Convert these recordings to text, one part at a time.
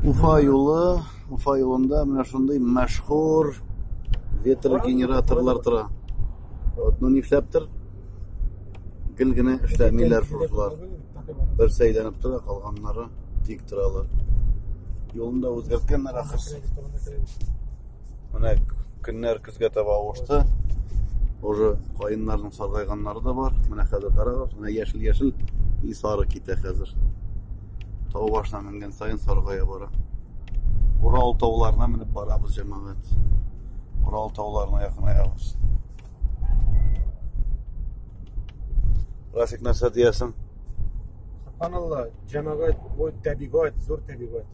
Уфа юлы, Уфа юлында менә шундый мәшһүр ветрогенераторлар тора. Вот, ну нишләптер? Гел генә эшләмиләр шулар. Бер сәйләнеп тора, калганнары тик торалар. Юлында үзгәрткәннәр ахырсы. Менә көннәр Безгә таба авышты. Уже каеннарның саргайганнары да бар. Менә хәзер карагыз, менә яшел-яшел и сары китә хәзер. Тау башына менгән сайын саргая бара. Урал тауларына менеп барабыз, җәмәгать. Урал тауларына якынаябыз. Рафик нәрсә диясең? Субханалла, җәмәгать, бу табигать, зур табигать.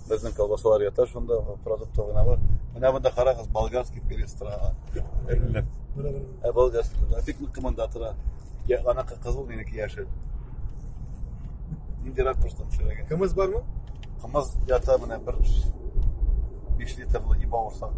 Безнең колбасалар ята шунда, продукты гына бар. Менә монда карагыз, болгарский перец тора. Эленеп. Ә болгарский, бик нык команда тора. Я, ана кызыл, минеке яшел. Нинди ракурстан төшерәгә. Кымыз бармы? Кымыз ята менә бер 5 литрлы иба урсак.